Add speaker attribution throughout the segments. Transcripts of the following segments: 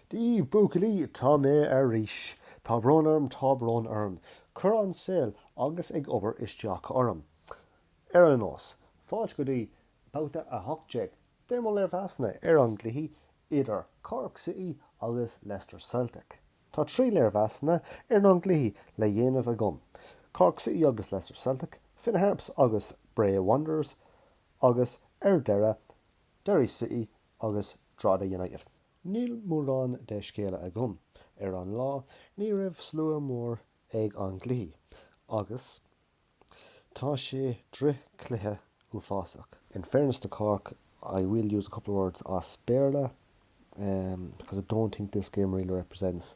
Speaker 1: Dia daoibh buachaillí, tá mé ar ais! Tá brón orm, tá brón orm. Chuir an saol agus an obair isteach orm. Ar aon nós, fáilte go dtí Babhta 18 de mo léirmheasanna ar an gcluiche idir Cork City agus Leicester Celtic. Tá trí léirmheasanna ar an gcluichí le dhéanamh agam, Cork City agus Leicester Celtic, Finn Harps agus Bray Wanderers, agus ar deireadh, Derry City agus Drogheda United. Níl mórán de scéala agam. Ar an lá ní raibh slua mór ag an gcluiche agus tá sé drochchluiche uafásach. In fairness to Cork I will use a couple of words as Béarla because I don't think this game really represents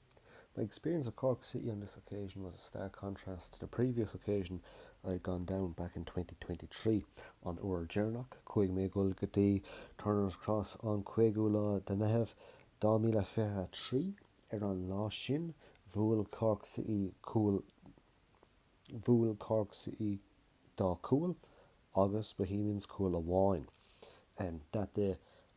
Speaker 1: My experience of Cork City on this occasion was a stark contrast to the previous occasion I'd gone down, back in 2023. An uair dheireanach chuaigh mé ag dul go dtí Turner's Cross, an 5ú lá de Mheitheamh, 2023, ar an lá sin bhuail Cork City dhá chúl agus Bohemians cúl amháin. That day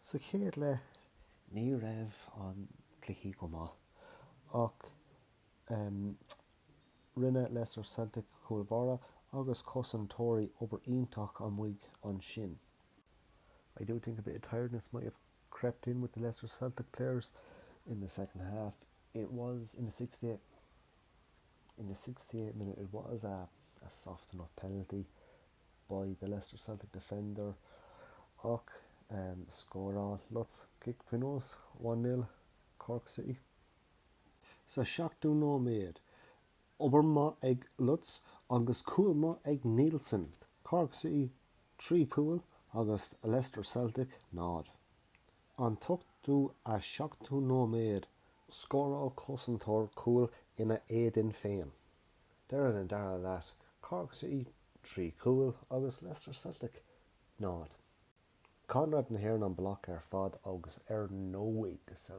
Speaker 1: Sa chéad leath ní raibh an cluiche go maith ach rinne Leicester Celtic cúl báire agus cosantóirí obair iontach amuigh ansin. I do think a bit of tiredness might have crept in with the Leicester Celtic players in the second half. It was in the sixty eighth minute it was a soft enough penalty. by the Leicester Celtic defender ach scóráil Lutz cic pionóis 'One Nil' Cork City sa seachtú nóiméad. Obair maith ag Lutz agus cúl maith ag Nielsen. Cork City 3 cúl agus Leicester Celtic 0. An t-ochtú a seachtú nóiméad. Scóráil cosantóir cúl ina éadan féin. Deireadh an dara leath, Cork City 3 chúl agus Leicester Celtic 0. Conradh na hÉireann an bloc ar fad agus ar ndóigh sa